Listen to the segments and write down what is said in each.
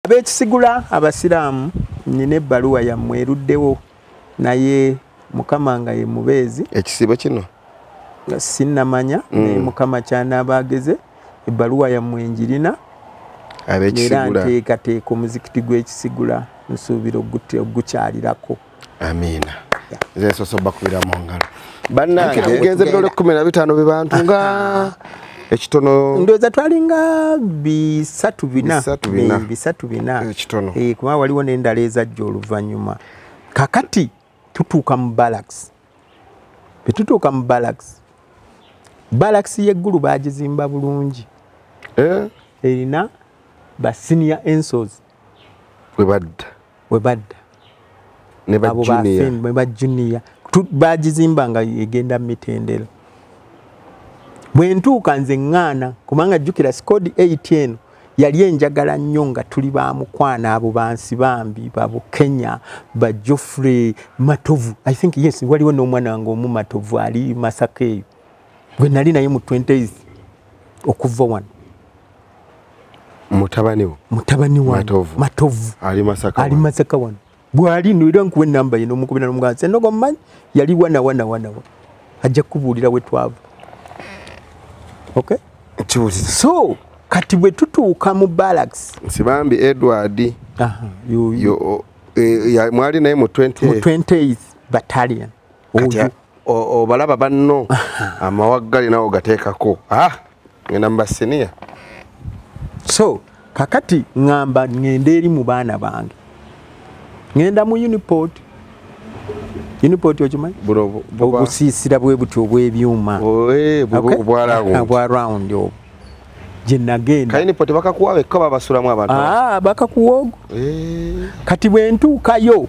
abekisigula abasiraamu nina ebbaluwa yammwe eruddewo naye mukama nga ye mubeezi ekisiibo kino sinnamanya mm. naye mukama kyanaaba ageze ebbaluwa yammwe enjirina era nteekateeka omuzikiti gw'ekisigula nsuubira ogukyalirako amiina zesoso bakubira mu ngalo bannange tugenze bidole kkumi na bitaano be bantu nga ekitono ndoza twalinga bisatu bina bisatu bina eh, ekitono eh kuba waliwo nendala ezajja oluvanyuma kakati tutuuka mu barracks betutuuka mu barracks barracks yeggulu baagizimba bulungi eh erina ba senior ensos webadda webadda abo ba juniya bagizimba nga egenda mumitendero bwentuuka nze ŋŋaana kubanga jjukira sikodi 8 eno yali enjagala nnyo nga tuli ba mukwano abo bansi bambi babukenya ba joffrey matovu i think yes waliwo n'omwana wange omu matovu ali masaka eyo gwe nali naye mu 20 okuva wano mutabani wo mutabani wa matovu matovu ali masaka ali masaka wano bwali no era nkuwe namba yino mukubina no mugasa no gomman yali wana wana wana wa ajja kubulira we twavu okay chibuzi so kati bwe tutuuka mu barracks sibambi edward aha yo yo e, ya mwali naye mu 20 mu 20 battalion oyo obalaba banno amawaggali nawe ogateekako ah, ngenda mubasiniya so kakati ŋamba ŋenda eri mu baana bange ŋenda mu uniport uniport okimanyi obusiisira bwe buti obw'ebyuma eh, obwa round obwo gyenagendabakakuwa ah, bakakuwa ogo eh. kati bwentuukayo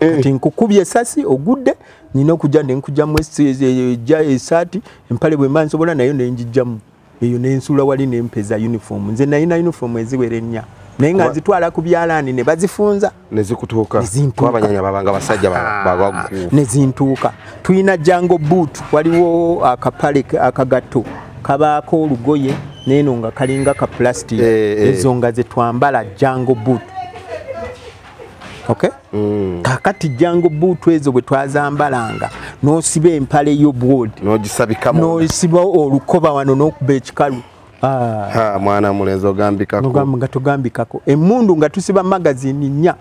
Eh. kati nkukubye esasi ogudde nina okujja nenkujjamu ejja esaati empale bwemba nsobola nayo nenjijjamu eyo nensuula wali nempeza uniform nze nayina uniform eziwera ennya naye nga nzitwala ku byalaani ne bazifunza nezikutuukaabanyanya babanga basajja ah, nezintuuka tulina jango boot waliwo akapale akagatto kabaako olugoye neeno nga kalinga ka plastic eh, eh. ezo nga zetwambala jango boot okay mm. kakati jango buutu ezo bwe twazambalanga nosiba empale yo bwod nogisabikamu nosiba olukoba wano nokuba ekikalu ah. ha mwana mulenzi ogambikako ogamba nga tugambikako emundu nga tusiba magazine nya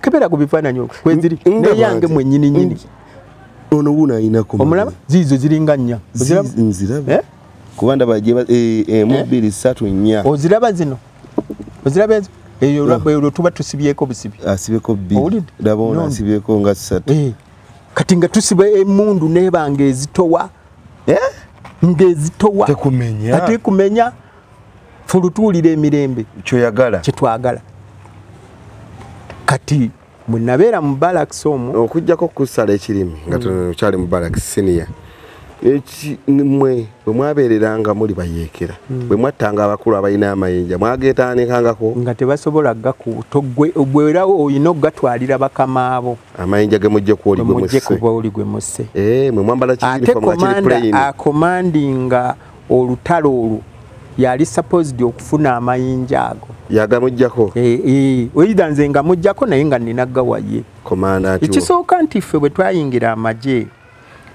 kebera ku bifananyi okwo kweziri neyange mwenyini nyini ono wuno ayinako omulaba ziizo ziringa nnya nziraba eh? kuba ndaba emu eh, eh, eh? bbiri satu nnya oziraba zino oziraba ezo eyo ah. olwo tuba tusibyeko busibi asibyeko bbiri ndaba ono asibyeko nga satu kati nga tusiba emundu nebanga ezitowa ngezitowa ate kumenya fulutuulira emirembe kyoyagala kyetwagala kati mwenabeera mu balakisi omwo okujjako okusala ekirimi nga tukyali mu balakisi siniya mwe bwe mwabeereranga muli bayeekera hmm. bwe mwattanga abakulu abalina amayinja mwageetaanikangako nga tebasobola gakutoggwerawo olina okugatwalira bakamaabo amayinja ge mujje kuoligemujje kuba oli gwe musse eh, mwe mwambala kiakomandinga olutalo olwo yali supposed okufuna amayinja ago yagamujjako eh, eh, oida nze nga mujjako naye nga nina gawaye ekisooka nti ffe bwe twayingira amagye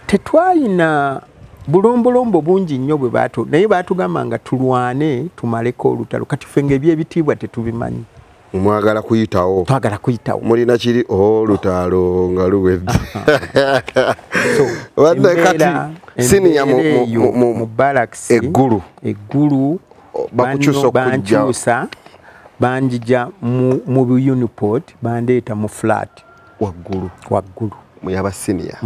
tetwayina bulombolombo bungi nnyo bwe batu naye batugamba nga tulwane tumaleko olutalo kati ffe nga ebyebitiibwa tetubimanyi mwagala kuyitawo twagala kuyitawo mulina kiri olutaalo oh, nga luwedde wadde kati siniya mu balaks eggulu eggulu bakukyusa okujja banjija mu, mu uniport bandeeta mu flat waggulu waggulu muyaba senior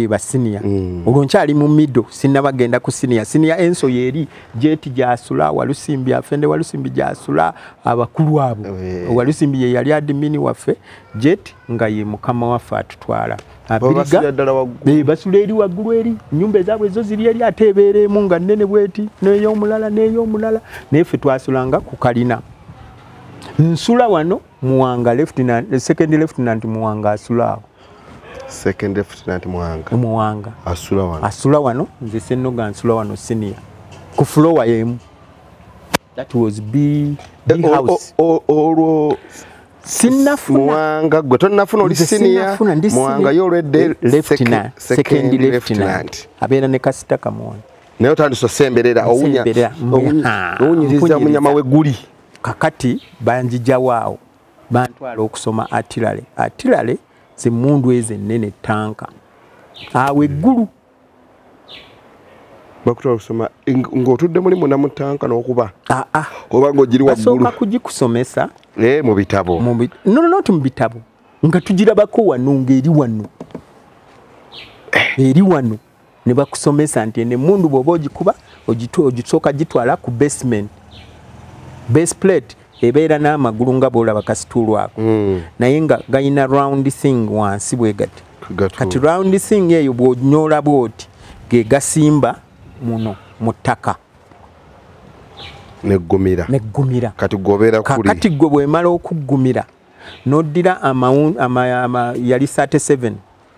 ba senior mm. olwo nkyali mu middle sinaba genda ku senior senior enso yeri jeti gyasula walusimbi afende walusimbi gyasula abakulu abo eh. walusimbi ye yali admin waffe jet nga ye mukama waffe atutwala eh, basula eri waggulu eri nyumba ezabwe ezo ziri eri ate ebeereemu nga nnene bweti neyomulala neyomulala naye ffe twasulanga ku kalina nsula wano muwanga lieutenant second lieutenant muwanga asulaawo second lieutenant muwanga muwanga asula wano asula wano nze senoga nsula wano senior ku floor yemu that was b b eh, house olwo sinafuna muwanga gwe tonafuna oli senior muwanga yo already lieutenant second lieutenant abera ne kasita kamona naye otandise osemberera owunyiriza munyama weguli kakati banjijawo awo bantwala okusoma atilale atilale zemundu ezo ennene tanka awo eggulu bakutwala okusoma ng'otudde muli muna mu tanka n'okuba aa ah, ah. oba ng'ogiri waggulubasooka kugikusomesa eh, mu bitabo nononoti mu bitabo nga tugirabako wano ng'eri wano eh. eri wano ne bakusomesa nti ene mundu bwoba ogikuba ogisooka gitwala ku basement base plate ebeera n'amagulu nga bwolaba kasituulu ako hmm. naye nga galina round thing wansi bwe gati kati round thing eyo bwonyoola bwoti ge gasimba muno mu ttaka neggumira neggumira kati gobera kuli kati gwe bwemala okuggumira noddira amawun ama, ama, ama yali 37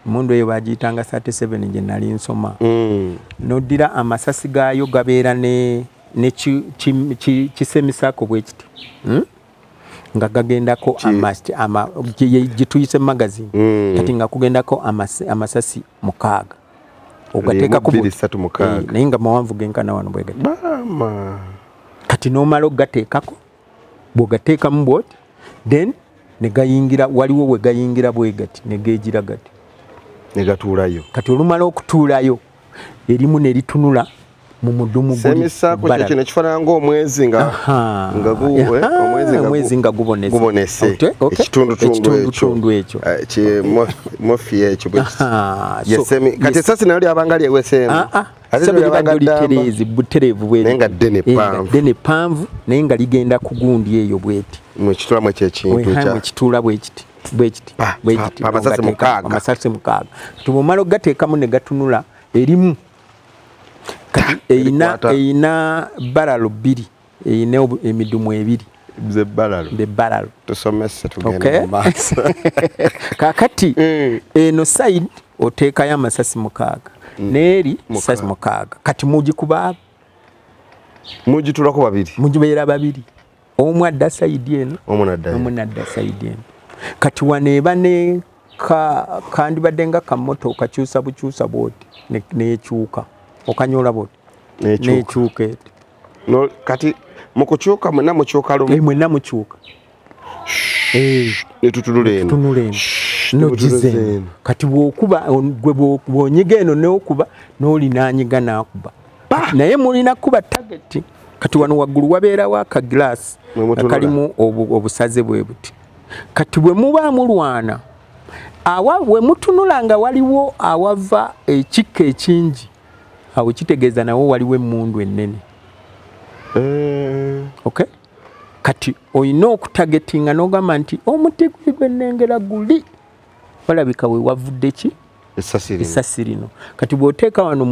emundu eyo bagiyitanga 37 gye nali nsoma mm. noddira amasasi gaayo gabeera nekisemisako bwe kiti hmm? nga gagendako gyetuyise magazini mm. kati nga kugendako amasasi mukaaga ogateekakonaye eh, nga mawanvu genkana wano bwegati kati nomala okugateekako bwogateekamu bwoti then negayingira waliwo wegayingira bwegati negegira gati negatuulayo kati olumala okutuulayo erimu neritunula mu mudumu gwekifaananga omwezi nga eh, nga gubonese ekitundutundu ekyo eh, mofi ekyo kati esasi nayo lyabanga lyeweseemu ah, ah. sebo libadde olitereeze butereevu bwenaye nga ddene eh, panvu ddene panvu naye nga ligenda ku gundi eyo bweti mwekitulamu ekyo ekintuekitula bwekiti bwekiti bwekiti amasasi mukaaga tubumala okugateekamu ne gatunula erimu kati eyina eyina baralo bbiri eyina emidumu ebiri bebalalu tusomese tugende mumaaso kakati eh. eno side oteekayo amasasi mukaaga mm. neeri sasi mukaaga kati mugikuba mugitulako babiri mugibeera babiri omu adda saidi eno omu nadda saidi eno kati wano eba ne kandibadde nga kamoto okakyusa bukyusa bwoti nekyuka okanyola bwoti nekyuka eti no kati mukukyuka mwenna mukyuka lumu eh, mwenna mukyuka eh, netutunula eno tunula eno nogize eno kati bwokuba gwe bwonyiga eno neokuba nolinanyiga nakuba naye mulina kuba tageti kati wano waggulu wabeerawo akagilasi akalimu obusaze bwe buti kati bwe muba mulwana awa we mutunula nga waliwo awava ekikka ekingi awo kitegeeza nawo waliwo emmundu ennene eh. okay kati olina okutagetinga n'ogamba nti omuti guli gwe nnengera guli walabika we wavudde ki esasi lino kati bw'oteeka wano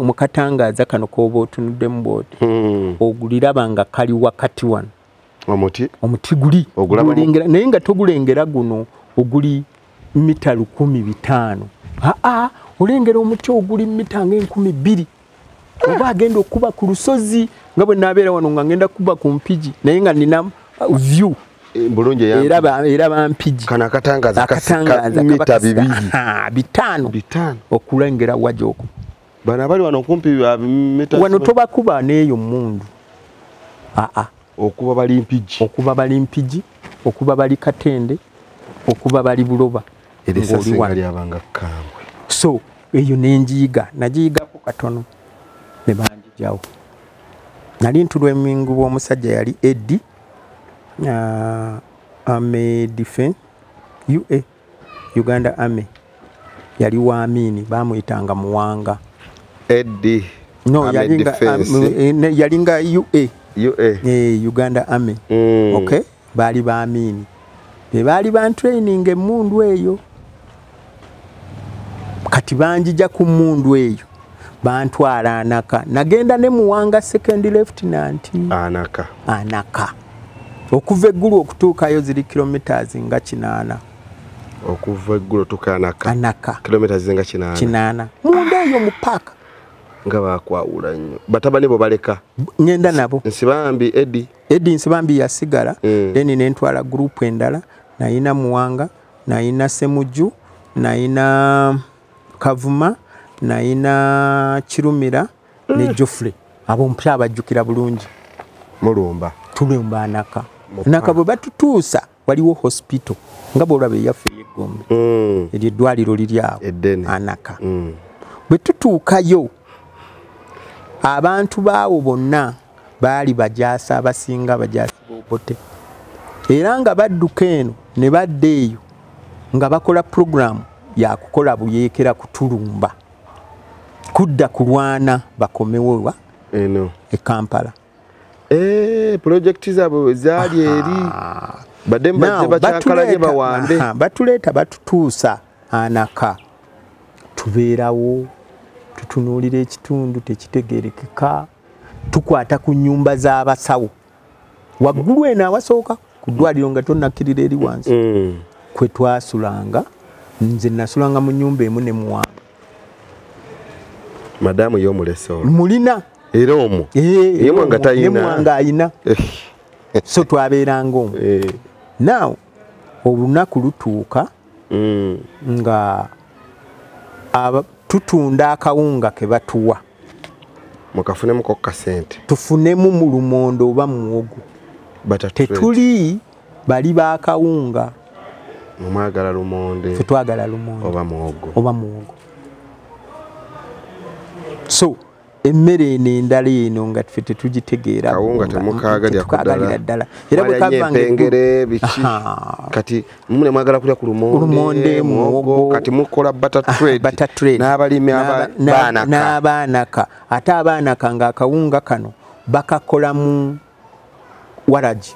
mu katangaaza kano k'oba otunuddemu bwoti hmm. oguliraba nga kali wakati wano omuti omuti guli ogulengera naye nga togulengera guno oguli mita lukumi bitaano aa olengera omuti oguli mita nga enkumi bbiri oba agenda okukuba ku lusozi nga bwe naabeera wano nga ngenda kukuba ku mpigi naye nga nina uh, view eh, bulungi era bampigi kano akatangaza mita bibiri bitaano okulengera wajoku bano abali wano kumpi wano tobakuba neeyo mundu aa okuba bali mpigi okuba bali mpigi okuba bali katende okuba bali buloba so eyo nenjiyiga nagiyigaku katono nebanjijawo nali ntulwa emingu bwomusajja yali edi uh, ame defen ua uganda army yali wa amini bamuyitanga muwanga ed no yalinga um, eh, ua ua eh, uganda army mm. okay baali ba amini bebaali bantraining emundu eyo kati banjija ku mundu eyo bantwala anaka nagenda ne muwanga second lieutenant anaka anaka okuva eggulu okutuukayo ziri kilometres nga kinaana okuva eggulu tuka anaka anaka kilometres nga kinaana kinaana munda eyo mu paaka nga bakwawula nnyo batabani bo baleka ngenda nabo nsibambi edi edi nsibambi yasigala mm. then nentwala gurupu endala nayina muwanga nayina semujju nayina kavuma nayina kirumira ne mm. jofrey abo mpya abajjukira bulungi mulumba tulumba anaka naka bwe batutuusa waliwo hospital nga bwolaba eyaffe eyegombe mm. eryo eddwaliro liri awo anaka mm. bwe tutuukayo abantu baawo bonna baali bajaasi abasinga abajaasi bobote era nga badduka eno ne badda eyo nga bakola puroguramu yakukola buyeekera kutulumba kudda kulwana bakomewowa eno e kampala eh, pulojekiti zaabwe zaali eri badde mbadde bakyakalanye bawambe batuleeta batutuusa anaka tubeerawo tutunuulira ekitundu tekitegerekeka tukwata ku nyumba za basawo waggulu eno awasooka ku ddwaliro nga tonakkirira eri wansi mm. kwe twasulanga nze nasulanga mu nyumba emu ne muwamba madamu yomuleso mulina era omu yemwanga tayinamwanga ayina eh. so twabeeranga omu eh. now olunaku lutuuka mm. nga tutunda akawunga ke batuwa mukafunemu ko kasente tufunemu mu lumondo oba muwogo tetuli bali ba kawunga mwagala lumonde twagala lumonde oba muwogo oba muwogo so emmere eno endala eno nga ffe tetugitegeerakawunga temukaagalira ddala era bwekavangere biki kati mune mwagala kulya ku lumonde muwogo kati mukola butter ah, trade butter trade n'abalimi abaanaka n'abaanaka ate abaanaka nga akawunga kano bakakola mu waragi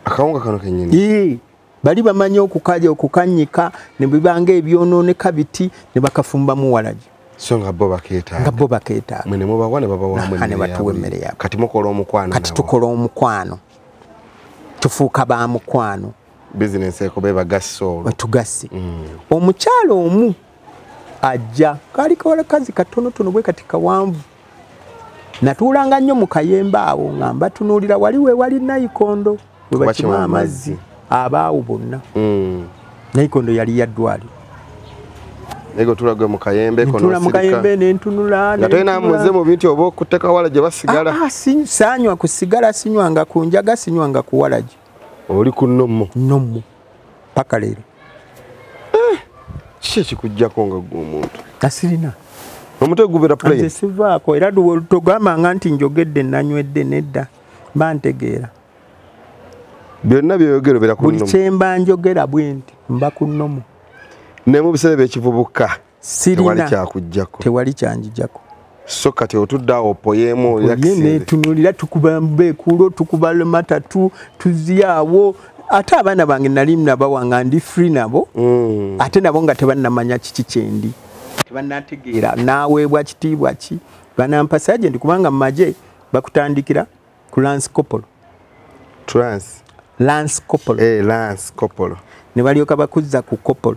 akawunga kano kenyini ee bali bamanyi okukalya okukanyika ne bibanga ebyonooneka biti ne bakafumbamu waragi so nga bo bakeetaaga nga bo bakeetaaga mwe ne mubawa ne babawa mwe ne batuwa emmere yaabwe kati mukola omukwano kati tukola omukwano tufuuka ba mukwano business eko beba gasse olwo tugasse mm. omukyala omu ajja kaali kawala kazi katonotono bwe kati kawanvu natuulanga nnyo mu kayembe awo nga mbatunuulira wali we wali nayikondo we bakima amazzi abaawo bonna mm. nayikondo yali yaddwali ego tulagwe mu kayembe kono mu kayembe ne ntunula ne tena muze mu bintu obo kuteka wala je basigala ah, ah, sinywa ku sigala sinywa nga kunjaga sinywa nga kuwalaje oli ku nommo nommo paka leero eh, kiki ekikujjako nga gwe omuntu kasirina omutwe gubera plane sivaako era togambanga nti njogedde nanywedde nedda mba ntegeera byonna byoyogera obera ku buli kyemba njogera bwenti mba ku nomo naye mu biseera byekivubuka sirina tewali kyanjijako so kati otudde awo opoyeemu netunulira tukuba mbekuulo tukuba lemata tu tuziyaawo ate abaana bange nali nabawa nga ndi free nabo mm. ate nabo nga tebannamanya kiki kyendi tebannategeera naaweebwa kitiibwa ki banampa sajenti kubanga mu magye bakutandikira ku lance copolo trans lance copolo eh, lance copolo ne balyoka bakuzza ku copolo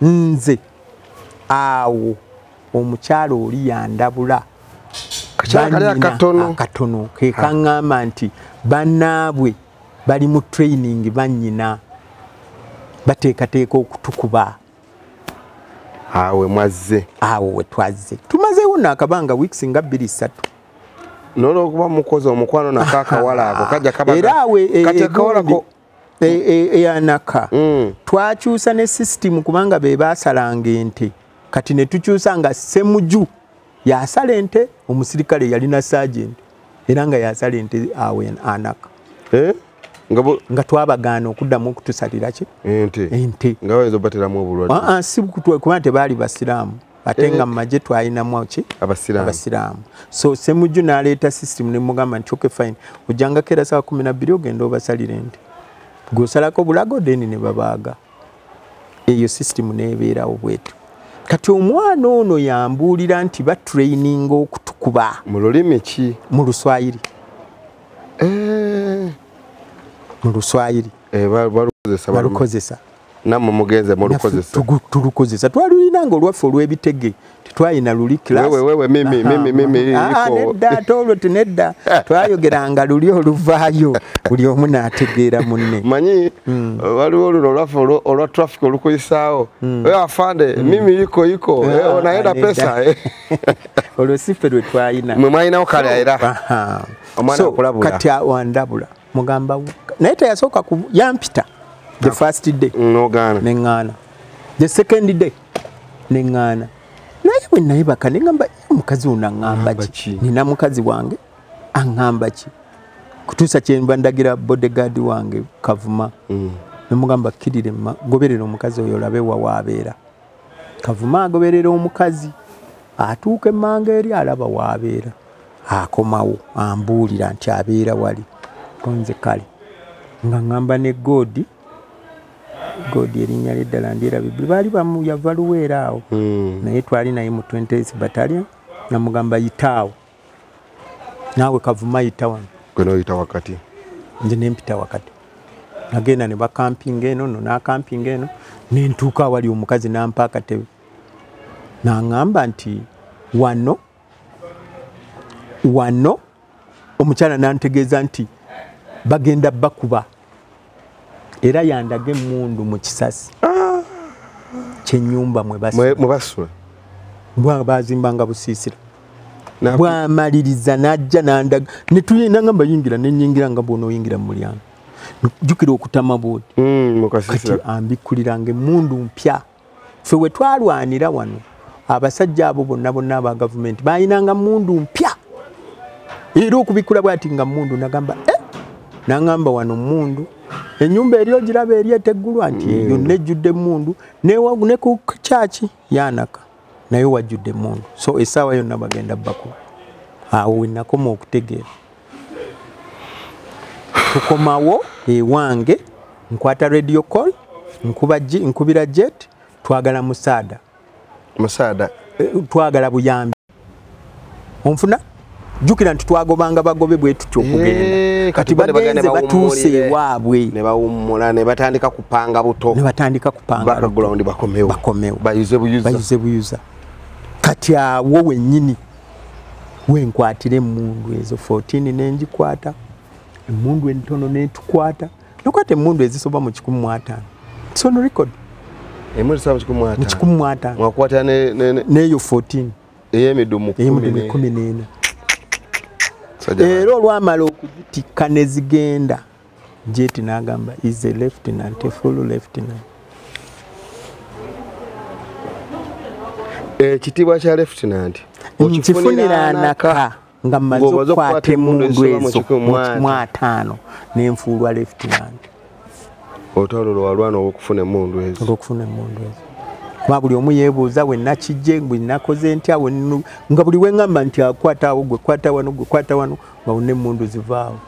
nze awo omukyala oli yandabula akatono kekaŋŋamba nti bannaabwe bali mu training bannyina bateekateeka okutukuba awe mwazze awo we twazze tumazeewo naakabanga weeks nga bbiri ssatu nolwokuba mukozi omukwano nakaakawala ako kajja kabaera awe e, e, eyanaka e, e, mm. twakyusa ne system kubanga be basalanga ente kati ne tukyusa nga semuju yasala ente omusirikale yalina sergeant era nga yasala ente awe anaka eh? nga twabagaana okuddamu okutusalira ki ente ente nga bayinza obateramu obulwadde ah, ah, si kuba nti baali basiraamu ate nga eh. mumaje twalinamu ki abasiraamu so semujju naleeta system nemugamba nti okay fine ojjangako era saa kumi nabbiri ogenda obasalira ente gwosalako bulago then nebabaaga eyo system nebeerawo bwetu kati omwana ono yambuulira nti batraininga okutukuba mu lulimi ki mu luswayiri eh. mu luswayiri eh, balukozesa namwe mugenze mulukozesa tulukozesa twalulina nga olwaffe olw'ebitege tetwalina luli klasnedda ate olwo tinedda twayogeranga luli oluvaayo buli omu n'ategeera munne manyi hmm. waliwo luno olwaffe olwa traffic olukuyisaawo hmm. eh, afande hmm. mimi yiko yiko ah, eh, onayenda pesa eh. olwo siffe lwe twalina mwe mwalinawo kale era omwana akulabula kati awandabula mugamba naye teyasooka ku yampita the ah. first day nogaana neŋŋaana the second day neŋŋaana naye bwe nayebaka neŋamba omukazi ono aŋŋamba ki nina mukazi wange aŋŋamba ki kutuusa kyenva ndagira bodegaadi wange kavuma mm. nemugamba kkirire goberera omukazi oyo olabe wawaabeera kavuma agoberera omukazi atuuka emmanga eri alaba waabeera akomawo ambuulira nti abeera wali konze kale nga ŋŋamba ne goodi goodi erinnya lyeddala ndyerabibbi baali bamu yava luweera awo hmm. naye twali naye mu 20 batalion namugamba yitaawo naawe kavuma yita wano gwe noyita wakati nze nempita wakati nagenda ne bakampinga eno no nakampinga eno nentuuka awali omukazi nampa akatebe naŋamba nti wano wano omukyala nantegeeza nti bagenda bakuba era yandaga emundu mu kisasi ah. kyenyumba mwebasula bwa bazimbanga busiisira bwamaliriza najja nandaga netuyenda nga mbayingira nenyingira nga bwona oyingira mu mulyango jjukira okutama bwoti mm, kati ambikkuliranga emundu mpya fe we twalwanira wano abasajja abo bonna bonna aba gavumenti balinanga mundu mpya era okubikkula bwati nga mundu nagamba e eh! nangamba wano mundu enyumba eri ogiraba eri eteggulwa nti mm. yonna ejjudde mundu ne ku kyaki yanaka naye wajjudde mundu so esaawa yonna bagenda bakuba awo wenakoma okutegeera tukomawo ewange nkwata radio call nkuba nkubira jet twagala musaada musaada eh, twagala buyambi onfuna jukira nti twagobanga bagobe bwetutyo okugenda eh, kati bagenze batuuse ewaabwe nebawummula nebatandika kupanga buto nebatandika kupangabakomewo bayuze buyuza kati awo wenyini wenkwatira emundu ezo 14 nenjikwata emundu entono netukwata nokwata emundu ezisoba mu kikumi mu ataano son record emundu ezisoba mu kikumi mu ataano mu kikumi mu ataano mwakwata ne ne neyo 14 eyemidumu eyemidumu kumi nena era olwamala okuzitikka nezigenda Jeti n'agamba is a lieutenant, a full lieutenant. Ekitiibwa eh, kya lieutenant nkifunira anaka nga mmaze okukwata emundu ezo mu ataano ne nfuulwa lieutenant. Olutalo lwe walwana olw'okufuna emundu ezo. Olw'okufuna emundu ezo. Kuba buli omu yeebuuza we nakijje, bwe nakoze ntya, nga buli we ngamba nti akwata awo, gwe kwata wano, gwe kwata wano. bawone emundu zivaawo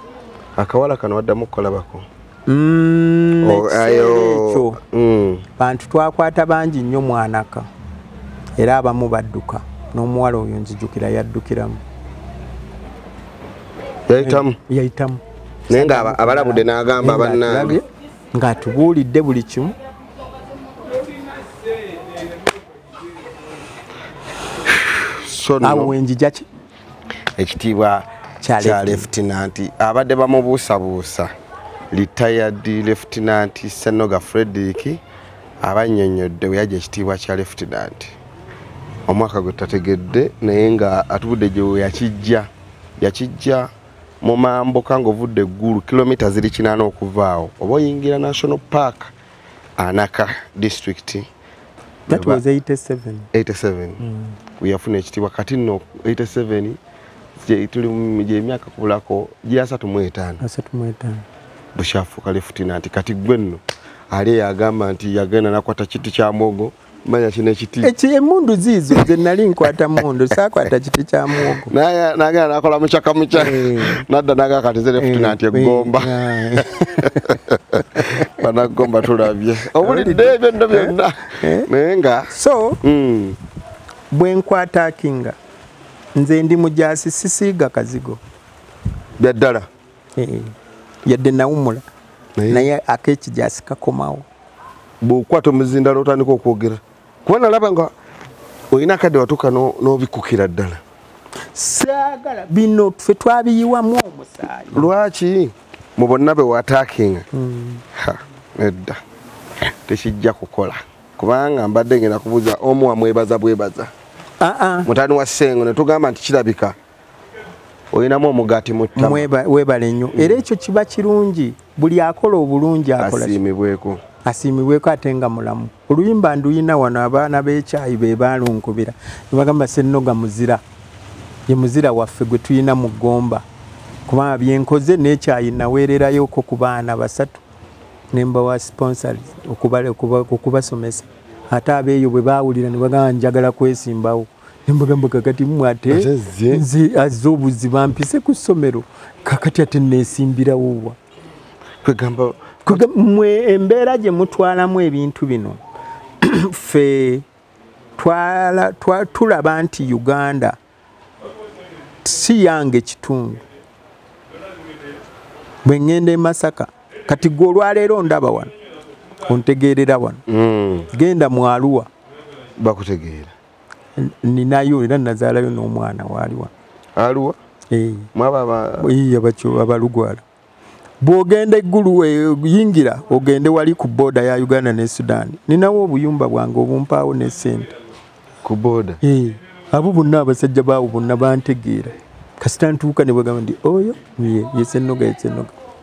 akawala kano waddamu okukolabako mm, oh, ekyo mm. bantu twakwata bangi nnyo mwanaka era abamu badduka n'omuwala oyo nzijukira yaddukiramu yayitamu yayitamu naye nga abalabudde n'agamba bannange ng'atubuulidde buli kimu awo wenjijaki ekitiibwa kya lefutinanti abadde bamubuusabuusa retired lefutinanti senoga frederick abannyonnyodde bwe yajja ekitiibwa kya lefutinanti omwaka gwe tategedde naye nga atubudde gye yakijja yakijja mu mambuka ng'ovudde eggulu kilomita ziri kinaana okuvaawo oba oyingira national park anaka disitulikiti That was 87. 87. Mm. Kuyafuna ekitibwa kati no 87 je tuli je myaka kulako je asatu mu etano. Asatu mu etano. Bushafu kale futina anti kati gwenno. Ale yagamba anti yagenda nakwata kiti kya mogo. Manya kine kiti. Echi eh, emundu zizo ze nali nkwata mundu sakwata kiti kya mogo. Naya naga nakola muchaka mucha. Hey. Eh. Nada naga kati zere futina anti eh, gomba. Bana gomba tulabye. obulidde ebyo nno byonna eh? Eh? naye nga so mm. bwe nkwatakinga nze ndi mujaasi sisiiga kazigo bya ddala eh, yadde nawumula naye akekijaasi kakomawo bwokwata omuzindalo otandika okwogera kuba nalaba nga olina akadde watuuka n'obikkukira ddala saagala bino ffe twabiyiwamu omusaayi lwaki mu bonna be watakinga hmm. nedda tekijja kukola kubanga mbadde ngenda kubuuza omu wamwebaza bwebaza ah, ah. mutani wa sengo netugamba nti kirabika olinamu omugaati muwebale nnyo hmm. era ekyo kiba kirungi buli akola obulungi akolasiimibweko asiimibweko ate nga mulamu oluyimba nduyina wano abaana b'ekyayi be baalunkubira ne bagamba sennoga muzira ye muzira waffe gwe tulina mu ggomba kubanga byenkoze n'ekyayi naweererayoko ku baana basatu ne mbawa sponsor okubasomesa ate abeeyo bwe baawulira ne bagamba njagala kwesimbawo ne mbagamba kakati mmwe ate nze azze obuziba mpise ku ssomero kakati ate neesimbirawowa kwegamba mwe embeera gye mutwalamu ebintu bino ffe tulaba nti uganda si yange kitundu bwe ŋŋenda e masaka kati gwe olwaleero ndaba wano ontegeerera wano hmm. genda mwaluwa bakutegeera ninayo era nazaalayo n'omwana waaliwa aluwa eh. abalugwala bw'ogenda eggulu eh, yingira ogende wali ku booda ya uganda ne sudan ninawo obuyumba bwange obumpaawo ne sente ku booda eh. abo bonna abasajja baawo bonna bantegeera kasita ntuuka ne bagamba nti oyo ye yesenoga yesenoga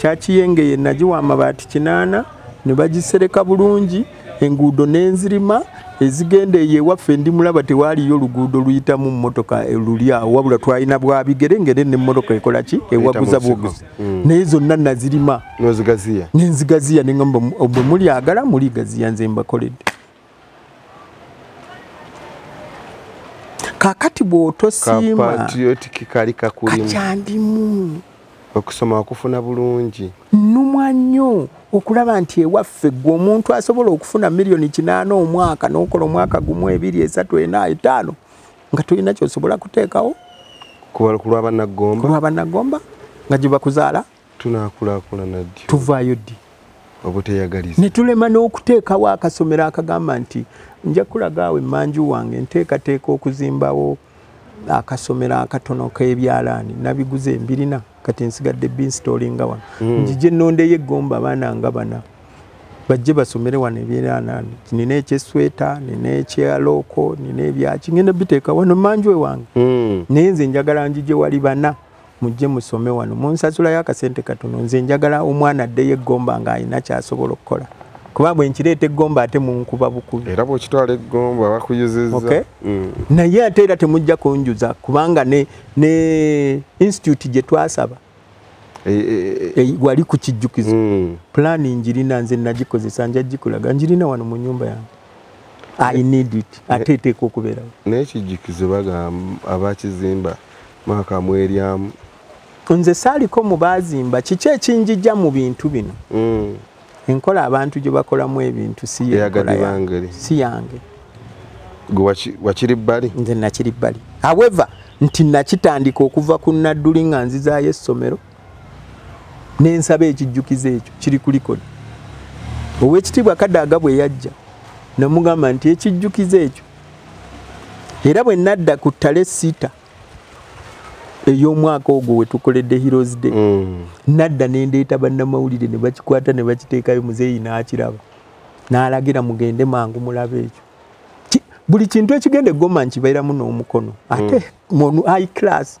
kyakiyengeye nagiwa amabaati kinaana ne bagisereka bulungi enguudo n'enzirima ezigenda eyo ewaffe ndi mulaba tewaaliyo oluguudo luyitamu mmotoka eh, luli awo wabula twalina bwabigere ngere nemmotoka ekola ki ewaguza buguzi hmm. naye zonna nazirima nenzigaziya neamba bwe mulyagala muligaziya nze mbakoledde kakati bwotosiimakyandimu okusoma okufuna bulungi numwa nnyo okulaba nti ewaffe gwe omuntu asobola okufuna miliyoni kinaana omwaka nokola omwaka gumu ebiri esatu ena etaano nga tolina kyosobola kuteekawo kulwabanagomba nga gyebakuzaala tunakulaakulana ddi tuvaayo ddi obuteyagaliza ne tulema n'okuteekawo akasomero akagamba nti nja kulaga awo emmanju wange nteekateeka okuzimbawo akasomero akatono k'ebyalaani nabiguze embirina kati nsigadde binstolinga wano hmm. njije nondeyo eggomba abaana nga bana bajje basomere wano ebyalaani nina ekyesweta nina ekyalooko nina ebyaki ngenda biteeka wano manju ewange hmm. naye nze njagala njije wali bana mujje musome wano munsasulayo akasente katono nze njagala omwana addeyo eggomba ng'alina kyasobola okukola kuba bwe nkireeta eggomba ate munkuba bukubi era bwekitwala eggomba bakuyuzizza okay? mm. naye ate era temujja kunjuza kubanga ne, ne institute gye twasaba e, e, e, wali ku kijjukizo mm. pulaani njirina nze nagikozesa nja gikulaga njirina wano mu nyumba yange ate eteeka okubeerawo naye kijjukize bagamba abakizimba mwaka mweryamu nze saaliko mu baazimba kiki ekinjija mu bintu bino mm. enkola abantu gye bakolamu ebintu si yange wakiri bbali nze nakiri bbali however nti nakitandika okuva ku nadduli nga nzizaayo essomero nensaba ekijjukizo ekyo kiri ku likodi owekitiibwa kadaaga bwe yajja namugamba nti ekijjukizo ekyo era bwe nadda ku ttale sita ey'omwaka ogwo wetukoledde heroes day mm. nadda nendeeta bannamawulire ne bakikwata ne bakiteekayo muzeeyi n'akiraba n'alagira mugende mangu mulabe ekyo buli kintu ekigenda egoma nkibeeramu n'omukono ate mm. mu high class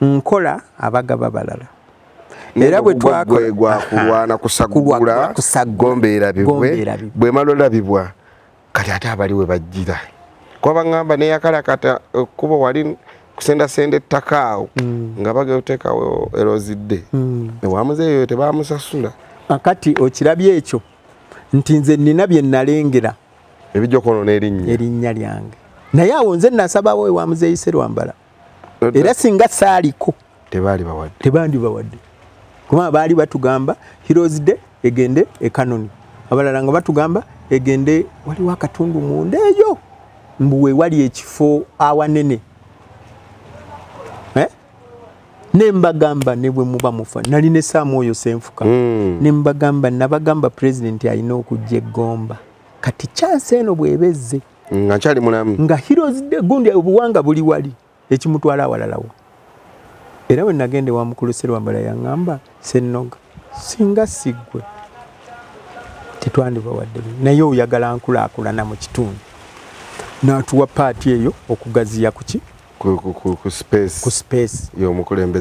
nkola abagaba balala era bwe twakolagwakulwana kusagula gombeera bibwe bwe malola bibwa kati ate abali we bajjira kuba baŋŋamba neyakalakata ekkubo eh, wali kusendasenda ettaka awo mm. nga bagee oteekawo erozidde mm. ewamuzeeyo tebamusasula kati okirabye ekyo nti nze nina bye nalengera ebijja okwonona erinnya erinnya lyange naye awo nze nasabawo ewamuzeeyise lwambala era singa saaliko tebandibawadde kubanga baali batugamba heroes day egende ekanoni abalala nga batugamba egende waliwo akatundu munda eyo mbu wewali ekifo awanene eh? nembagamba nebwe muba mufa nali ne saamu oyo senfuka mm. nembagamba nabagamba pulezidenti alina okujja eggomba kati kyansi eno bwebezze nga nkyali mulamu nga heroes day gundi obuwanga buli wali ekimutwala awalalawo era we nagenda ewa mukulu serwambala yaŋŋamba sennoga singa siggwe tetwandiba wadde naye oyagala nkulaakulana mu kitundu n'atuwa paati eyo okugaziya kuki ku space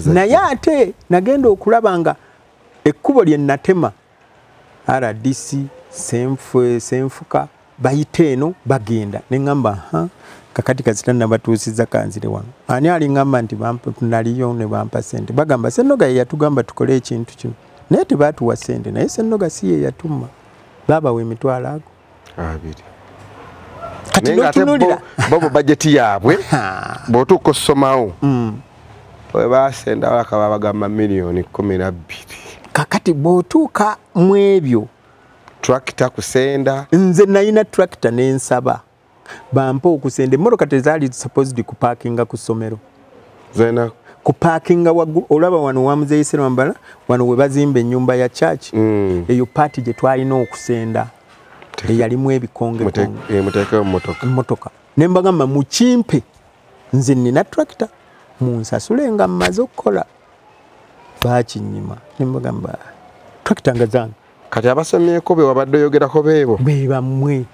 naye ate nagenda okulaba nga ekkubo lye natema rdc senfuka bayita eno bagenda neŋamba ha kakati kasita nabatuusiza kanzire wano ani aliŋamba nti naliyo ne bampa sente bagamba sennoga ye yatugamba tukole ekintu kino naye tebatuwa sente naye sennoga si ye yatuma baabawa emitwalo ago abiri kati notunulira bobo bajeti yaabwe bwotuuka ossomawo mm. webaasenda walaka babagamba miliyoni kumi nabbiri kakati bwotuuka mu ebyo tracta kusenda nze nayina tracta nensaba bampa okusenda emmotoka tezaali supposed kupakinga ku ssomero zena kupakinga waggulu olaba wano wamuzeyise lwambala wano we bazimba ennyumba ya church mm. eyo paati gye twalina okusenda eyalimu ebikongemotoka eh, ne mbagamba mukimpe nze nina tractor munsasule nga mmaze okukola bakinyima ne mbagamba tractor nga zange kati abasomyeko be wabadde oyogerako beebo be bamwe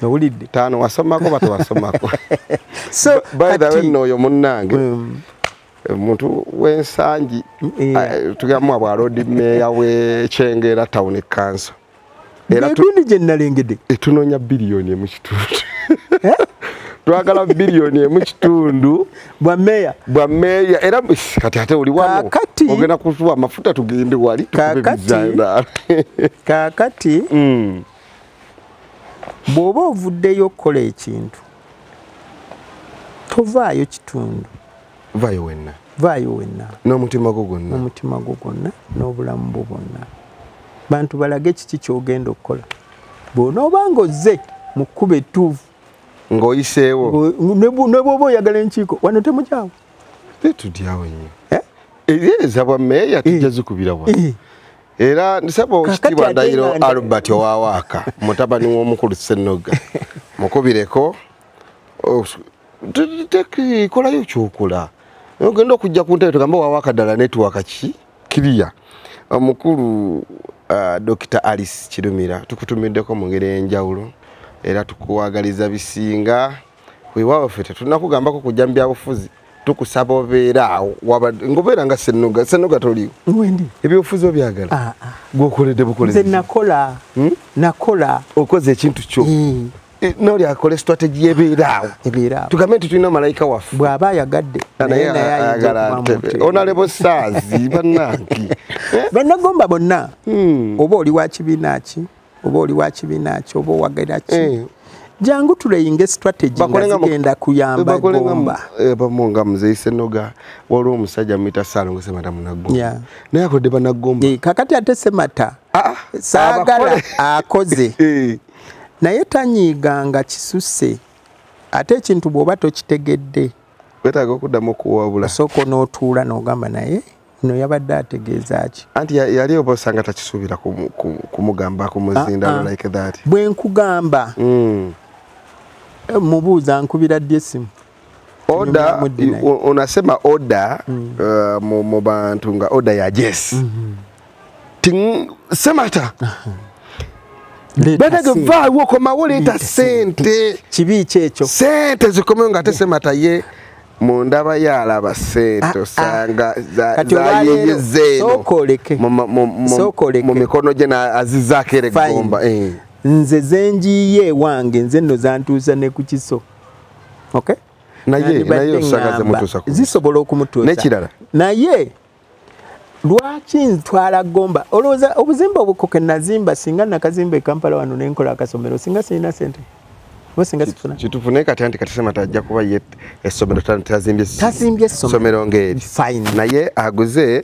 nowulidde taano wasomako batewasomako so by the way nooyo munnange um, omuntu wensangi eh. ah, tugamwa bwa lodi meeya wekyengera town kanso egundi gye nnalengedde etunoonya biliyoni emu kitundu eh? twagala biliyoni emu kitundu bwa meeya bwa meeya era kati ate oli wano ogenda kutuwa amafuta tugende wali kakati mm. bw'oba ovuddeyo okukola ekintu tovaayo kitundu vaayo wenna vaayo wenna n'omutima gwo gwonna n'omutima gwo gwonna n'obulamu bwo bwonna bantu balage kiki kyogenda okukola bwonooba nga ozze mu kkuba ettuufu ng'oyiseewo ne bwoba oyagala enkiiko wano temukyawo tetudyawo nnyo eh? ebyeza bwa meeya tujja eh. zikubira wa eh. era nsaba okitiibwa ndayiro albert owawaaka mutabani w'omukulu sennoga mukubireko oh, kolayo kyokola ogenda okujja ku ntebe tugamba wawa akadala netiwaka ki kiriya omukulu uh, dokita alice kirumira tukutumiddeko mu ngeri enjawulo era tukuwagaliza bisinga wewawo fe tetunakugambako kujja mu byabufuzi tukusaba obeera awo ngobeera nga senuga senuga toliwo ebyobufuzi obyagala ah, ah. gwokoledde bukolezi nakola hmm? nakola okoze ekintu kyo hmm. Eh, noli akola strategy yebeeraawo ebeeraawo tugambe nti tulina malayika waffe bw'aba ayagadde ah, naye ayagala ntebe onalebo saazi bannange eh? bannagomba bonna hmm. oba oli wa kibiina ki oba oli wa kibiina ki oba owagira ki eh. jangu tuleyinge strategy nga zigenda kuyamba gomba bamu nga muzeyi senoga waliwo omusajja muyita salongo semata munagomba naye akodde banagomba kakati ate semata ah, ah, saagala akoze naye tanyiiga nga kisuse ate ekintu bwoba tokitegedde wetaaga okuddamu okuwabula osooka onootuula n'ogamba naye no yabadde ategeeza ki anti yali oba osanga takisuubira kumugamba kumuzindalo ah, ah. like that bwe nkugamba mm. eh, mubuuza nkubira ddi essimu oda unasema oda mm. uh, mu, mu bantu nga oda ya jes mm -hmm. ting semata banage vaawo okomawo leeta sente kibi kyekyo sente zikomewo nga ate semata ye mu ndaba yaalaba sente ah, ah. osanga zayeyezeenomu mikono gye azizaako era eggomba eh. nze zenjiye wange nze no zantuusa ne ku kiso okay naye naye osagaze mutusa ku zisobola okumutusa nekirala naye lwaki ntwala gomba olowooza obuzimba obukoke nazimba singa nakazimba ekampala wano nenkola akasomero singa sirina sente kitufu naye kati anti katisema tajja kuba ye essomero tazimbye essomero ngeri naye aguze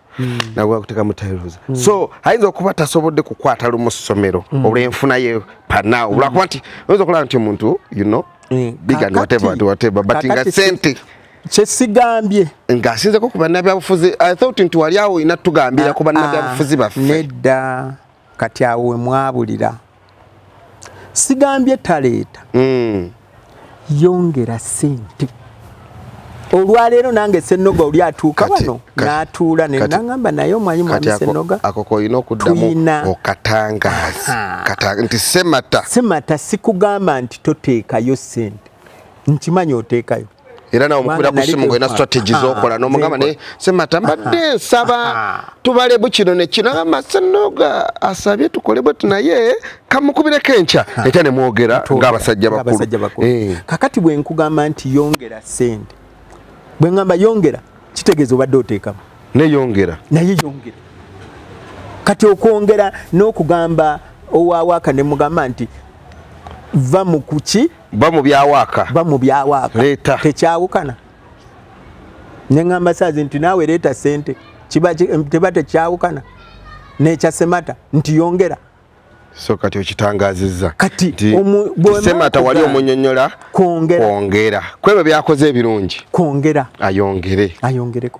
Hmm. nabwe akuteka mutayiruza hmm. so ayinza okuba tasobodde kukwata lumu ssomero hmm. olw'enfuna ye pana olwakuba nti oyinza okulaba nti omuntu you know big and whatever and whatever but nga sente kyesigambye ng'asinzeko ku bannabyabufuzi i thought nti wali awo olina tugambira ku bannabyabufuzi ah, ah, baffe nedda kati awo we mwabulira sigambye taleeta mm. yongera sente olwaleero nange senoga oli atuuka wano natuula nenagamba naye omwanyi mwami senoga akoko olina okuddamu okatangazi nti semata semata sikugamba nti toteekayo sente nkimanyi oteekayo era nawe mukubira ku simu ngolina strategy ah, zokola ah, nomugamba naye semata mbadde ah, nsaba tubalebu kino nekino agamba senoga asabye tukole bweti naye kamukubireko enkya ekya nemwogera ngaabasajja bakulu eh. kakati bwe nkugamba nti yongera sente bwe ngamba yongera kitegeeza obadde oteekamu neyongera naye yongera kati okwongera n'okugamba owawaaka nemugamba nti va mu kuki ba mu byawaaka ba mu byawaaka leeta tekyawukana ne ŋamba saazi nti naawe leeta sente kiba teba tekyawukana nekya semata nti yongera so kati okitangazizza katisemata wali omunyonyola kwongera kwebyo byakoze ebirungi kwongera ayongere ayongereko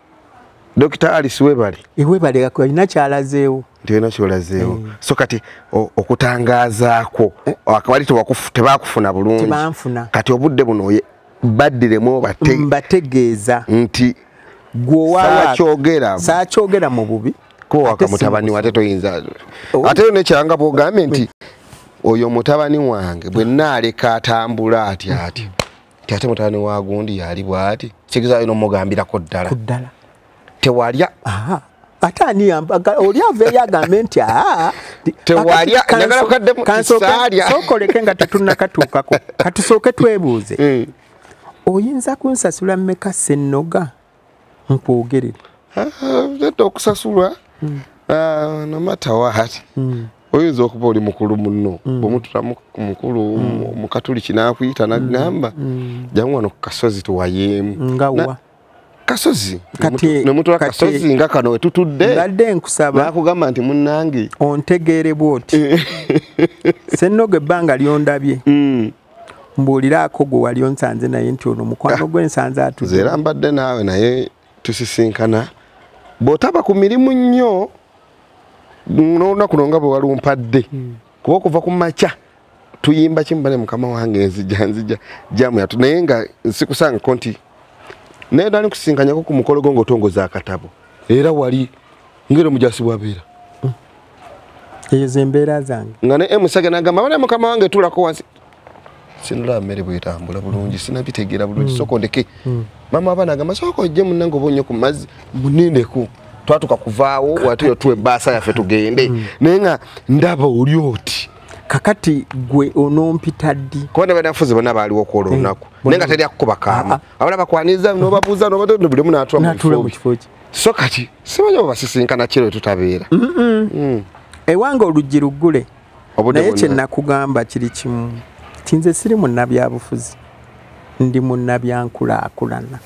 Dr. Alice Webale. Iwebale eh, yako ina kyalazeewo. Ndio ina kyalazeewo. Mm. So kati okutangaza ko eh. akabali to wakufu tebakufuna bulungi. Tebanfuna. Kati obudde buno oye badire mo bate. Mbategeeza. Nti gwo wa saa kyogera. Saa kyogera mu bubi. Ko wakamutabani wate to inza. Oh. Ate ne kyanga bo gamenti. Oyo mutabani wange bwe naleka atambula ati ati. Mm. ate mutani wa gundi yali bwati kigeza ino mugambira ko ddala ku ddala tewalya aha ate ani yambaga oli ave yagambe nti aha tewalya njagala kukadde mu kisalya sokoleke nga tetunnakatuukako katusooke twebuuze eh. oyinza kunsasula mmeka sennoga nkwogerere nedda ah, okusasulwa hmm. ah, nomata wahati hmm. oyinza okuba oli mukulu muno hmm. bwemutula mukulu mukatuliki nakuyita nagamba jamu wano kukasozi tuwayeemu kasozi nemutula kasozi nga kano wetutudde badde nkusaba nakugamba nti munange ontegeere bwoti sennoga ebbanga lyondabye mbuuliraako gwe wali onsanze naye nti ono mukwano gwe nsanze atuze era mbadde naawe naye tusisinkana bw'otaba ku mirimu nnyo n'olunaku lwo nga bwe walumpadde hmm. kuba okuva ku makya tuyimba kimu bane mukama wange nzija nzija jamu yatu naye nga nsikusangako nti naye dali kusinkanyako ku mukolo gwo ng'otongoza akatabo era wali ngero mujasi bwabeera eyo zembeera zange nga ne emusaga nagamba bana mukama wange tulako wansi sinula mere bwetambula bulungi mm. sinabitegera bulungi mm. soko ndeke mm. mama abana agamba soko ojje munange oba onyo ku mazzi munindeko twatuka kuvaawo watuyo tuwe baasa yaffe tugende mm. naye nga ndaba oli oti kakati gwe onompita ddi kuba ne banafuzi bonna baaliwo kwola eh, olunaku naye nga teri akukuba kaama ah, ah. abana bakwaniriza nobabuuza nobatondo bulimu natula mu kifo kye so kati simanyi obasisinkana kiro tutabeera mm. ewange oluggi luggule naye kyenakugamba kiri kimu ti nze siri munnabyabufuzi ndi munnabyankulaakulana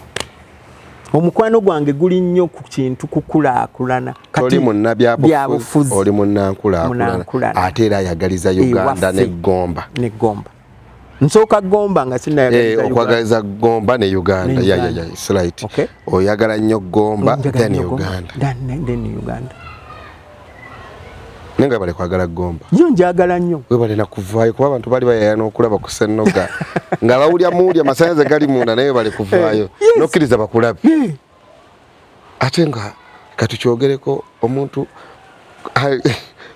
omukwano gwange guli nnyo ku kintu kukulaakulana kati munnabyabufuzi oli munnankulaakulana ate era ayagaliza uganda neggomba neggomba nsooka gomba nga sinayaokwagaliza eh, gomba ne uganda yayayaslit oyagala nnyo gomba then uganda naye nga bale kwagala gomba yo njagala nnyo webale nakuvaayo kuba abantu bali bayaya n'okulaba ku sennoga nga bawulya muwulya amasanyaze gali munda naye webale kuvaayo eh, nokkiriza bakulabe ate nga katukyogereko omuntu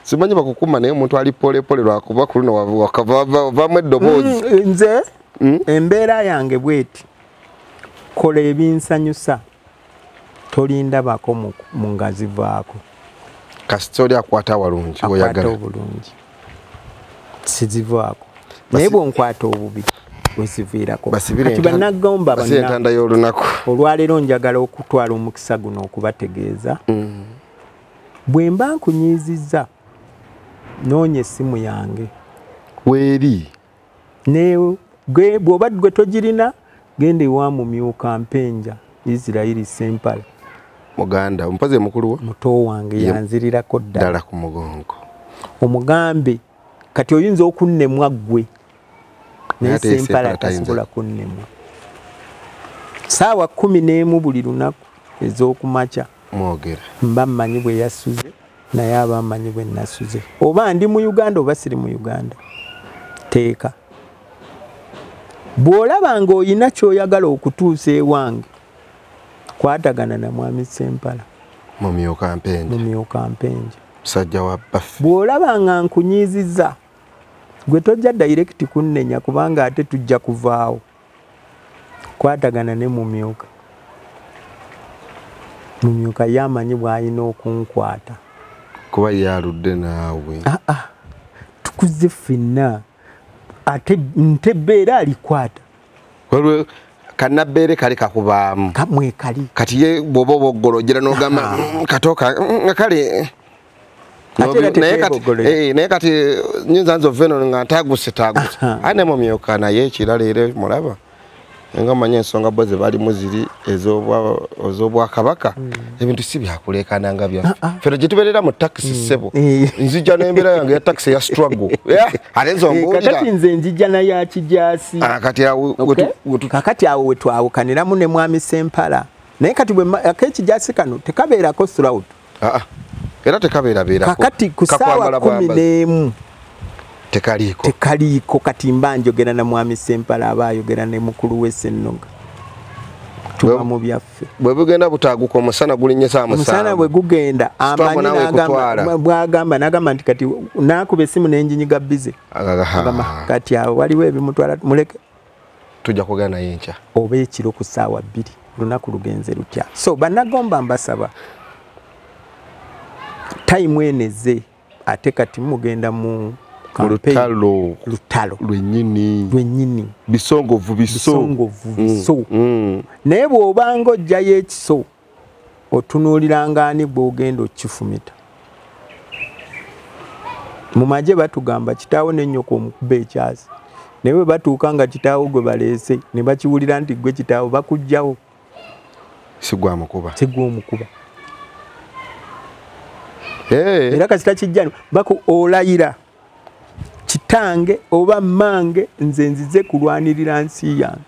simanyi bakukuma naye omuntu ali polepole lwakuba ku luno wavaamu eddoboozi mm, eh, nze mm? embeera yange bweti kola ebinsanyusa tolindabako mu ngazivaako kasita oli akwata walungi oyagala obulungi sizivaako naye bwonkwata obubi weziviirakokati banagomba entanda y'olunaku olwaleero njagala okutwala omukisa guno okubategeeza mm. bwe mba nkunyiizizza noonya essimu yange weeri newe gwe bwoba gwe togirina genda ewa mumyuka mpenja isirairi sempala muganda omupazi mukulu wa muto wange yanzirirako ddala ku mugongo omugambe kati oyinza okunnemwa ggwe naye sempala tasobola kunnemwa saawa kumi n'emu buli lunaku ez'okumakya mwogera mba mmanyi bwe yasuze naye abamanyi bwe nasuze oba ndi mu uganda oba siri mu uganda teeka bw'olaba ng'olina ky'oyagala okutuusa ewange kwatagana na mwami sempala mumyuka mpenje mumyuka mpenje musajja wa baffe bw'olaba nga nkunyiiziza gwe tojja dayirekiti kunnenya kubanga ate tujja kuvaawo kwatagana ne mumyuka mumyuka ye amanyi bwalina okunkwata kuba yaludde naawe ah, ah. tukuze fenna ate ntebbe era alikwata kanabeere kali kakubaamu kamwekali kati ye bwoba oba oggolojera nogamba ah. mm, katoka mm, nga kale Eh, naye kati eh, nyinza nze oveno nga ntaguse taguse aye nemumyuka naye ekirala era mulaba nga manyi ensonga bo zebalimu ziri ezobwakabaka hmm. ebintu si byakulekana nga byaffe ah, ah. fena gyetuberera mu takisi hmm. sebo eh. nzija nembeera yange ya takisi ya struggle ate nzongaokati nze njija nayo akijasi ah, kakati awo wetwawukaniramu ne mwami sempala naye kati akekijasi kano tekabeerako srout aa era tekabeerabeerako kakati ku ssaawa kumi n'emu tekaliiko tekaliiko kati mba njogera na mwami sempala aba ayogera ne mukulu we sennoga tuba mu byaffe bwe bugenda butaaguka omusana gulinnye saa musaana bwe gugenda amanyibwagamba nagamba nti kati naakuba essimu nenjinyiga bize kati awo waliwo ebimutwala muleke tujja kwogera naye enkya oba ekiro ku ssaawa bbiri olunaku lugenze lutya so banagomba mbasaba tayimu eno ezze ate kati mugenda mu lutalo lutalo lwenyini lwenyini bisongovu biso bisongovu mm, biso mm. naye bw'obanga ojjayo ekiso otunuuliranga ani gw'ogenda okukifumita mu magye batugamba kitaawo nennyoko omukuba ekyasi naye bwe batuuka nga kitaawo gwe baleese ne bakiwulira nti gwe kitaawo bakugjawo sigwamukuba sigwa omukuba era kasita kijjani baku olayira kitange oba mmange nze nzize kulwanirira nsi yange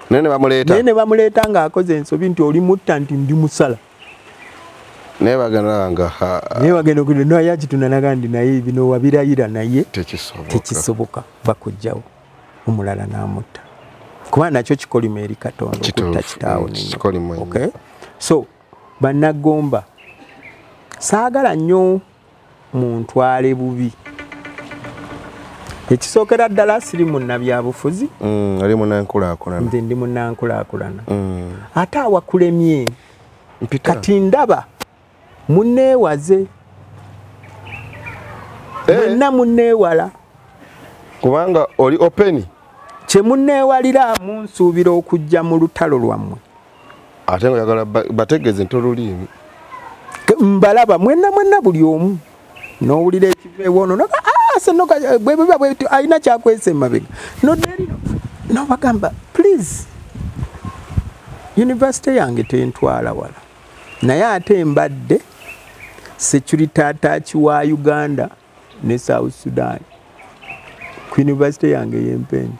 naye ne bamuleeta naye ne bamuleeta ng'akoze ensobi nti oli mutta nti ndi musala naye bagenda nga naye bagenda okugenda naye yakitunanaga ndi naye bino wabirayira naye tekisoboka bakujjawo omulala n'amutta kuba nakyo kikolimo eri katonda okutta kitaawo mm, so bannagomba saagala nnyo muntwale bubi ekisookera ddala siri munnabyabufuzi mm, ali munankulakulana nze ndi munankulakulana mm. ate awakulemye kati ndaba muneewaze eh. mwenna muneewala kubanga oli openi kye muneewalira munsuubira okujja mu lutalo lwammwe ate nga yagala bategeeze nti oluliimi mbalaba mwenna mwenna buli omu n'owulira ekiva ewoono noga ah, senoga eh, bwebiba bwebityo alina kyakwesa emabega noderino nobagamba please yunivasite yange tentwala wala naye ate mbadde security ataaki wa uganda ne south sudan ku yunivasite yange ey'empendi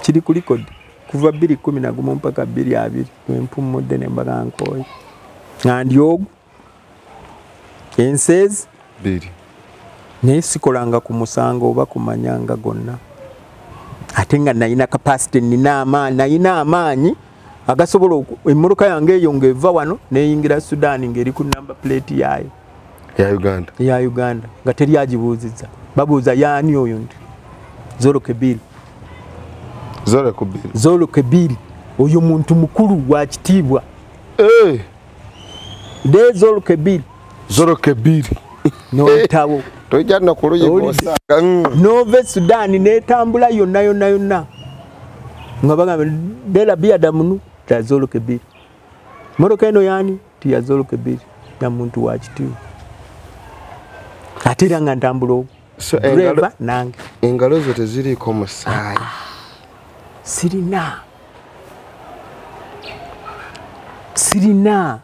kiri ku likodi kuva bbiri kumi nagumu mpaka bbiri abiri wempummudde ne mbaga nkooyi nga ndi ogu enseezi bbiri naye sikolanga ku musango oba kumanyanga gonna ate nga nalina kapasite nina amaanyi nalina amaanyi agasobola emmotoka yange eyo ng'eva wano neyingira sudaani ng'eri ku namba puleeti yaayo ya uganda ya uganda nga teri agibuuzizza babuuza yaani oyo nti zolokebiri zolokebiri oyo muntu mukulu wa kitiibwa eh! de zolokebiri zolokebiri nolutawo tojja nakuluyigosa nova esudaani netambula yonna yonna yonna nga bagamba dela bia damunu tazoloke bili moroka eno yani tiyazoloke bili na muntu wa kitiwo ate era nga ntambula obu so, engalo, nange engalo zo teziriiko musaayi ah, sirina sirina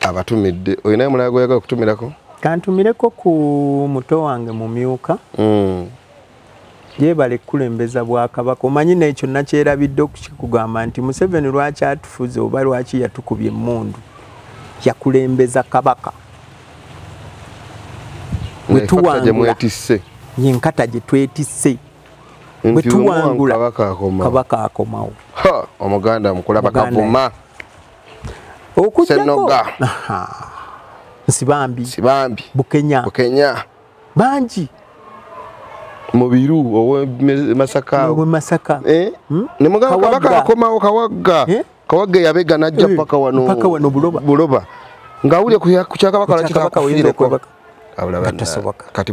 abatumidde olinayo mulala gweyagala okutumirako kantumireko ku muto wange mumyuka mm. yebale kukulembeza bwakabaka omanyi nekyo nakyerabidde okukikugamba nti museveni lwaki atufuze oba lwaki yatukubye emundu yakulembeza kabaka wetuwangula yenkata gyetwetise bwetuwangula kabaka akomawo omuganda mukula bakavuma okujjako nsibambi nsibambi bukenya bukenya bangi mubiru owe masaka owe masaka eh hmm? ne muganga kabaka akomawo kawagga eh? kawagga yabega najja eh, paka wano paka wano buloba buloba ngawule ku chaka bakala chaka kawinde ko kati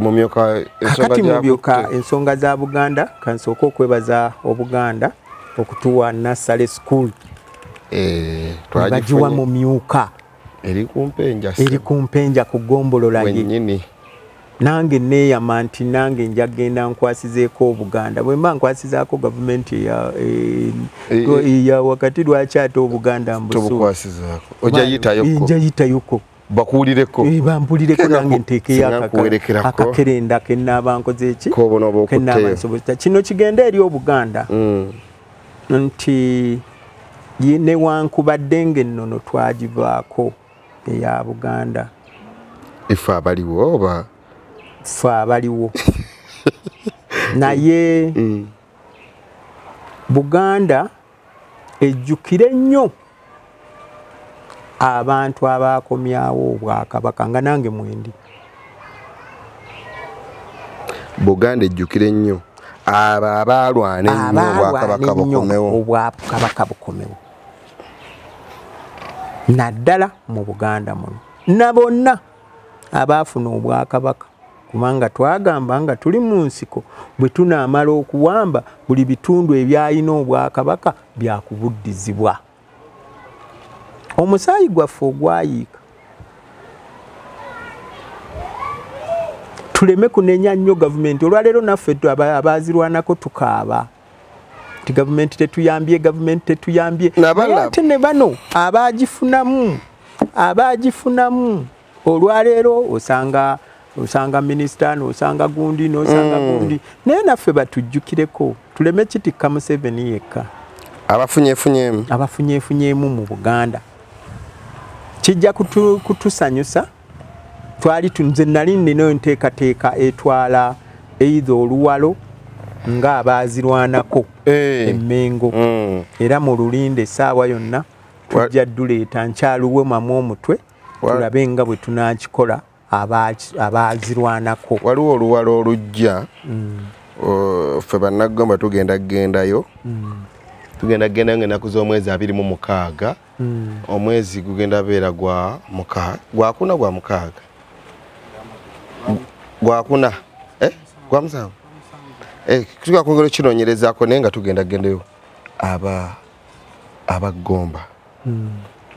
mumyoka ensonga za buganda kansooka okwebaza obuganda okutuwa nasale school eh, bagiwa mumyuka eri kumpenja ku gombolola ye nange neyama nti nange nja genda nkwasizeeko obuganda bwemba nkwasizaako gavumenti eya eh, eh, wakati lwaki ate obuganda mbusunjayitayoko bakuwulireko eh, bampulireko nange nteekeyo akakerenda kenaaba nkoze eki kenaaba nsobozesa kino kigenda eri obuganda mm. nti newankubadde ngaennono twagivaako eya buganda ife abaliwo oba fe abaliwo naye mm. buganda ejjukire nnyo abantu abaakomyawo obwakabaka nga nange mwendi buganda ejjukire nnyo abo abaalwana ennyo obwakabaka bukomewo obwakabaka bukomewo naddala mu buganda muno na bonna abaafuna obwakabaka kubanga twagamba nga tuli mu nsiko bwe tunaamala okuwamba buli bitundu ebyalina obwakabaka byakubuddizibwa omusaayi gwaffe ogwayiika tuleme kunenya nnyo gavumenti olwaleero naffe abaazirwanako tukaaba nti gavumenti tetuyambye gavumenti tetuyambye ate ne bano abaagifunamu abaagifunamu olwaleero osanga osanga minisita nosanga gundi nosanga mm. gundi naye naffe batujjukireko tuleme kitikka museveni yekka abafunyefunyemu abafunyefunyemu mu buganda kijja kutusanyusa kutu twali tunze nali nina enteekateeka etwala eitha oluwalo nga abaazirwanako eh. emmengo hmm. era mu lulinde essaawa yonna tujja duleeta nkyaluwe mamu omutwe tulabe nga bwe tunakikola abaazirwanako waliwo oluwalo olujja hmm. ffe bannagamba tugenda kugendayo hmm. tugenda kugendayo ngaenaku z'omwezi abiri mu mukaaga hmm. omwezi gugenda beera gwa mukaaga gwakuna gwa mukaaga gwakuna eh? gwa musanvu eh, tuga kwongera okinonyerezako naye nga tugenda gendeyo aba abagomba hmm.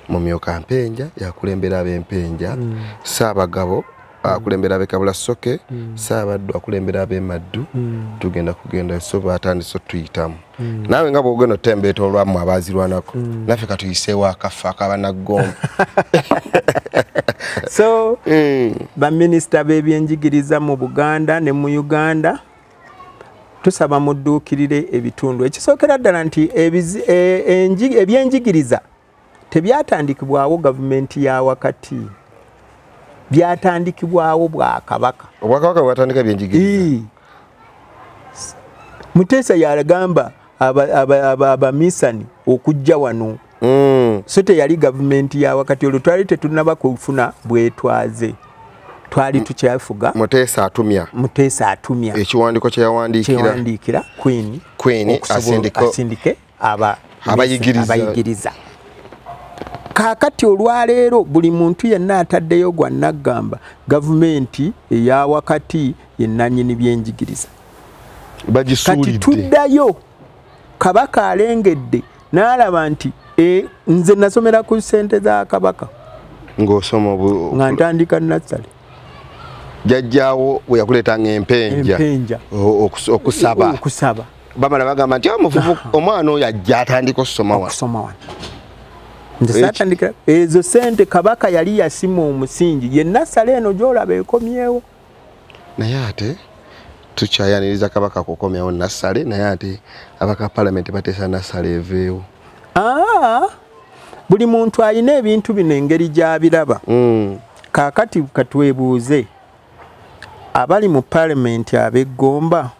mumyuka mpenja yakulembera abempenja hmm. saabagabo akulembera abekabula soke mm. saabaddu akulembera abemaddu mm. tugenda kugenda so batandise otuyitamu mm. naawe nga bwogenda otembeeta olwamu abaazirwanako mm. naffe katuyiseewo akaffe akabanagomba so mm. baminisita b'ebyenjigiriza mu buganda ne mu uganda tusaba mudduukirire ebitundu ekisookera ddala nti e, ebyenjigiriza e, tebyatandikibwawo gavumenti ya wakati byatandikibwawo bwakabaka obwakabaka bwatandika byenjigiriza muteesa yagamba abamisani okujja wano mm. so teyali gavumenti ya wakati olwo twali tetunaba kufuna bwetwaze twali tukyafuga muteesa atumya muteesa atumya ekiwandiko kyeyawandiikira queen queen asindike aba abayigiriza kakati olwaleero buli muntu yenna ataddeyo gwa naggamba gavumenti eya wakati yenanyini byenjigiriza kati tuddayo kabaka alengedde n'alaba nti e, nze nasomera ku sente za kabaka ng'osoma nga ntandika nassale jajjaawo bwe yakuleeta ng'empenja okusaba okusaba bamala bagamba nti omuvubu ah, omwana oyo ajja atandika okusoma wano nze satandikira ezo sente kabaka yali yasima omusingi yenna sala eno gyolaba ekomyewo naye ate tukyayaniriza kabaka kukomyawo nassale naye ate abaka palamenti bateesa nassale eveewo ah, buli muntu alina ebintu bino engeri gyabiraba mm. kakati katwebuuze abali mu palamenti abeggomba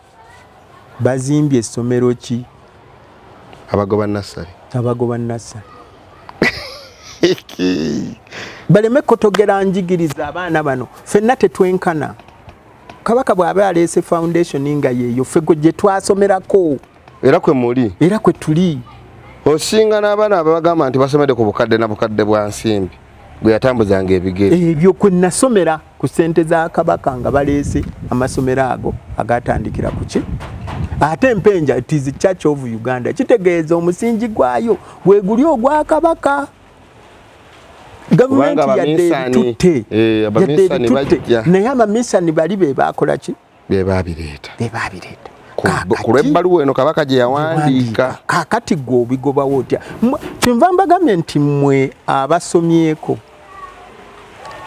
bazimbye essomero ki abagoba nassale abagoba nassale baleme kotogera njigiriza abaana bano fenna tetwenkana kabaka bw'aba aleese foundation nga yeeyo ffe gwe gye twasomerako era kwe muli era kwe tuli osinga n'abaana ababagamba nti basomede ku bukadde na bukadde bwa nsimbi gwe yatambuzanga ebigere ebyo kwe nasomera ku ssente za kabaka nga baleese amasomero ago agatandikira ku ki ate mpenja it is church of uganda kitegeeza omusingi gwayo gweguli ogwa kabaka gavumenti yadde ebitutte eh, yadde ebitutte naye amamisani bali be bakola ki bebaabireeta bebaabireeta ku lw'ebbaluwa eno kabaka gye yawandiika kakati gwe obigobawo otya kyenva mbagambye nti mmwe abasomyeko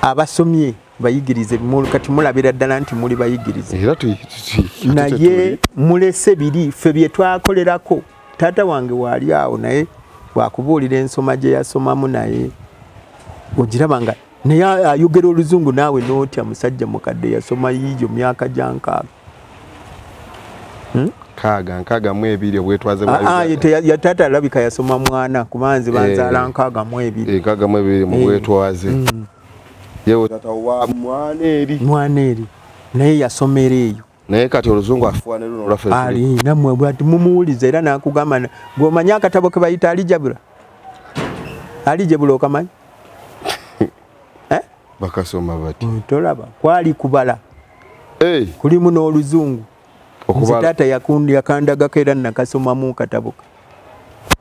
abasomye bayigirize kati mulabira ddala nti muli bayigirize naye mulese biri ffe bye twakolerako taata wange waali awo naye wakubuulira ensoma gye yasomamu naye ogiraba nga naye ayogera oluzungu naawe notya musajja mukadde yasoma yiijo myaka gyankaaga hmm? kaaga nkaaga mu ebiri obwetwaze yataata alabika yasoma mwana kuba nze banzaala eh. nkaaga mu ebiri eh, nkaaga mu ebiri mu eh. bwetwaze hmm. yewe tata wa mwana eri mwana eri naye yasomera eyo naye kati oluzungu afuwa ne luno lwaffe ali namwe bwati mumuwuliza era nakugamba ng'omanyi akatabo ke bayita alijabula alijabula okamanyi eh? bakasoma bati mm, tolaba kwali kubala hey. kulimu n'oluzungu nze taata yakundiyakandagako era nakasomamu kataboka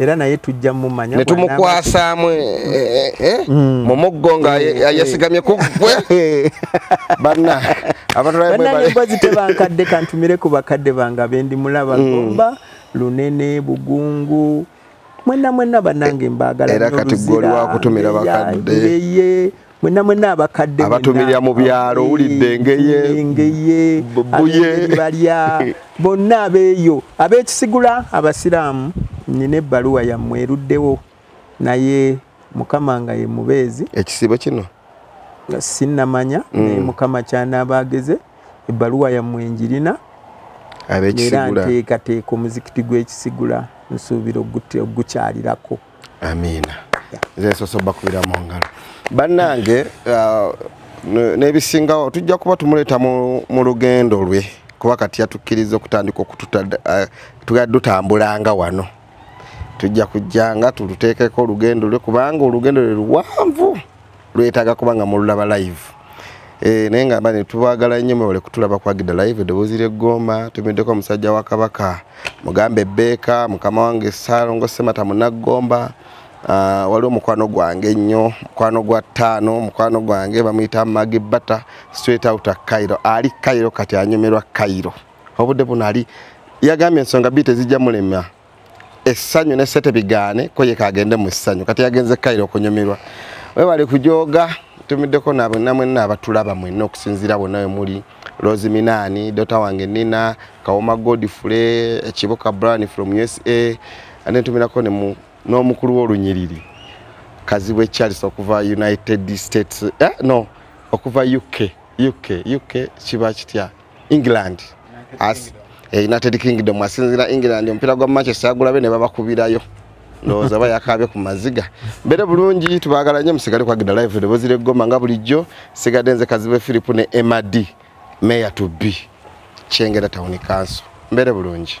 era naye tujja mumanya ne tumukwasaamu eh, eh, eh, mm. mu muggo nga yasigamye ku gwe banna abatulaembazi tebankadde kantumire ku bakadde bange abendi mulaba mm. gomba lunene bugungu mwena mwena banange mbagala era kati gwe oli wakutumira bakadde mwena mwena abakadde abatumira mu byalo owulidde engeye engeye buye balya bonna abeeyo ab'ekisigula abasiraamu nina ebbaluwa yammwe eruddewo naye mukama nga ye mubeezi ekisibo kino sinnamanya mm. naye mukama kyanaaba ageze ebbaluwa yammwe njirina era nteekateeka omuzikiti gw'ekisigula nsuubira ogukyalirako amiina zesosoba kubira mu ngalo bannange uh, n'ebisingawo tujja kuba tumuleeta mu lugendo lwe kuba kati yatukkiriza okutandika okututambulanga uh, wano tujja kujjanga tuluteekeko olugendo lwe kubanga olugendo lwe luwanvu lwetaaga kuba nga mululaba live eh, naye ngamba ne tubagala nnyo mwewale kutulaba kwagida live eddoboozi ly'eggomba tumiddeko omusajja wa kabaka mugambe ebbeeka mukama wange saalongo semata munaggomba Ah, waliwo mukwano gwange nnyo mukwano gwa ttaano mukwano gwange bamuyita magi bata straight out cairo ali cairo kati anyumirwa cairo obudde buno ali yagambye ensonga bii tezijja mulema essanyu ne sete bigaane ko yeka agende mu ssanyu kati yagenze kairo okunyumirwa webale kujoga tumiddeko nabwe namwe nabatulaba mwena okusinzira bonna we muli rose minaani dota wange nina kawoma godfrey ekibuka bran from usa ane tumirako n'omukulu w'olunyiriri kazibwe charles okuva united states eh, no okuva uk uk uk kiba kitya England as eh, United Kingdom asinzira England omupiira gwa Manchester agulabe ne babakubirayo ndowooza aba yakaabye ku maziga mbeere bulungi tubaagala nnyo musigale kwagida live eddoboozi ly'eggoma nga bulijjo sigadde nze kazibe philipu ne mad mayor to be kyengera tawuni kanso mbeere bulungi